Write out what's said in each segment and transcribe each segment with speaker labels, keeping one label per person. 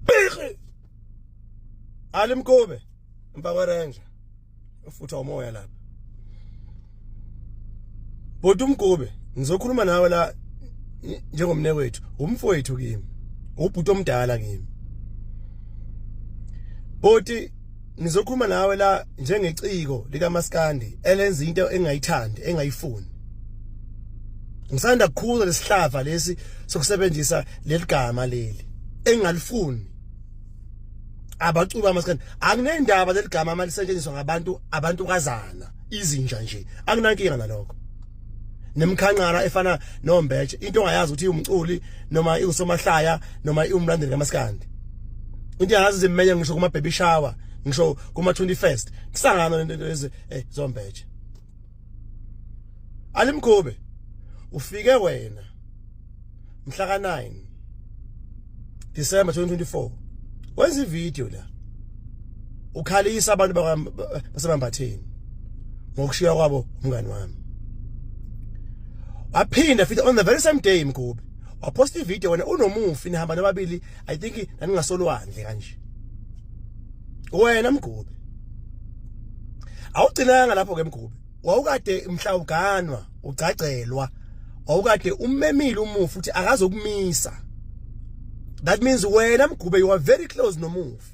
Speaker 1: Bixi. Alimkube. Mpakwe ranger. Ufutha umoya lapha. Bhuti umgube ngizokhuluma nawe la njengomne wethu umfowethu kimi ubhuti omdala kimi Bhuti ngizokhuluma nawe la njengeciko likaMaskandi elenza into engayithandi engayifuni Ngisanda kukhuza lesihlava lesi sokusebenzisa leligama leli engalifuni abacuba amaskandi akunendaba leligama mali setshenziswa ngabantu abantu kazana izinja nje akunankinga nalokho nemkhanqara efana nombetshe into ongayazi ukuthi umculi noma iusomahlaya noma iumlandeli kamaskandi into yazi zimenye ngisho kuma baby shower ngisho kuma 21st kusangana lento lezi eh zombetshe alimkhube ufike wena mhla ka 9 December 2024 wenza ivideo la ukhalisa abantu basemambatheni ngokushiya kwabo umngani wami waphinda futhi on the very same day mkhube waposta ivideo wena unomufi nihamba nababili i think naningasolwandle kanje wena mgube awugcinanga lapho ke mgube wawukade mhla uganwa ugcagcelwa wawukade ummemile umufi uthi akazokumisa that means wena mgube you are very close nomufi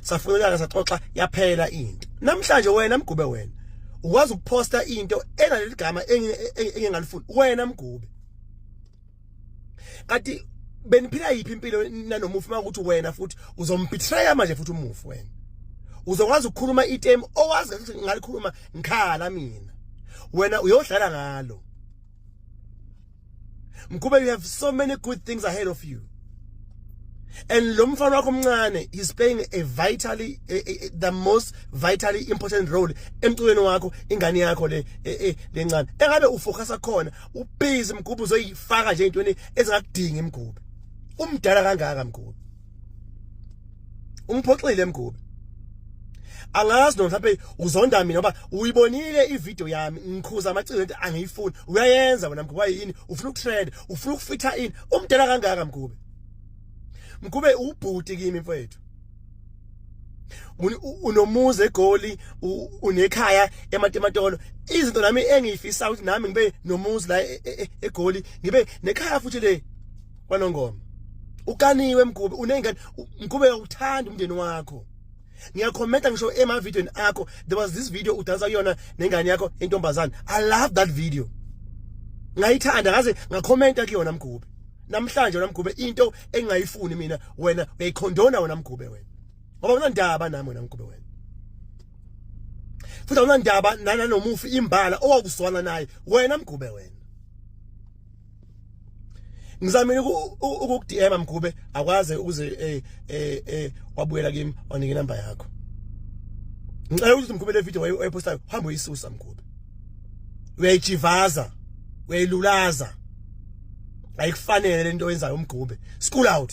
Speaker 1: safuna unyaka saxoxa yaphela into namhlanje wena mgube wena ukwazi ukuposta into enaleli gama engingalifuni wena mgube kanti beniphila yiphi impilo nanomufi uma ukuthi wena futhi uzombetray manje futhi umufi wena uzokwazi ukukhuluma item owazi ukuthi ngalikhuluma ngikhala mina wena uyodlala ngalo Mkube you have so many good things ahead of you and lo mfana wakho omncane is playing a vitally a, a, the most vitally important role emculweni wakho ingane yakho le e, e, lencane engabe ufocusa khona ubhizi mgubhu uzoyifaka nje intweni ezingakudingi mgubhu umdala kangaka mgubhu umphoxile mgube angazi noma mhlawumbe uzonda mina ngoba uyibonile ivideo yami ngikhuza amaciko ento angiyifuni uyayenza wena mgube yini ufuna ukutrend ufuna ukufitha ini umdala kangaka mgube mgube ubhuti kimi mfowethu unomuzi egoli unekhaya ematematolo izinto nami engiyifisa ukuthi nami ngibe nomuzi la e, e, e, egoli ngibe nekhaya futhi le kwanongoma ukaniwe mgube unengane mgube uyakuthanda umndeni wakho ngiyakhomenta ngisho emavidiyweni akho there was this video udansa kuyona nengane yakho intombazane i love that video ngayithanda ngaze ngakhomenta kuyona mgube namhlanje wena mgube into engayifuni mina wena uyayikhondona wena mgube wena ngoba unandaba nami wena mgube wena futhi awunandaba nana nomufi imbala owakuzwana naye wena mgube wena ngizamile ukukudm mgube akwaze ukuze eh eh, eh wabuyela kimi wanike inamba yakho ngicela ukuthi mgube le video wayipostayo hamba uyisusa mgube uyayijivaza uyayilulaza ayikufanele lento oyenzayo umgube school out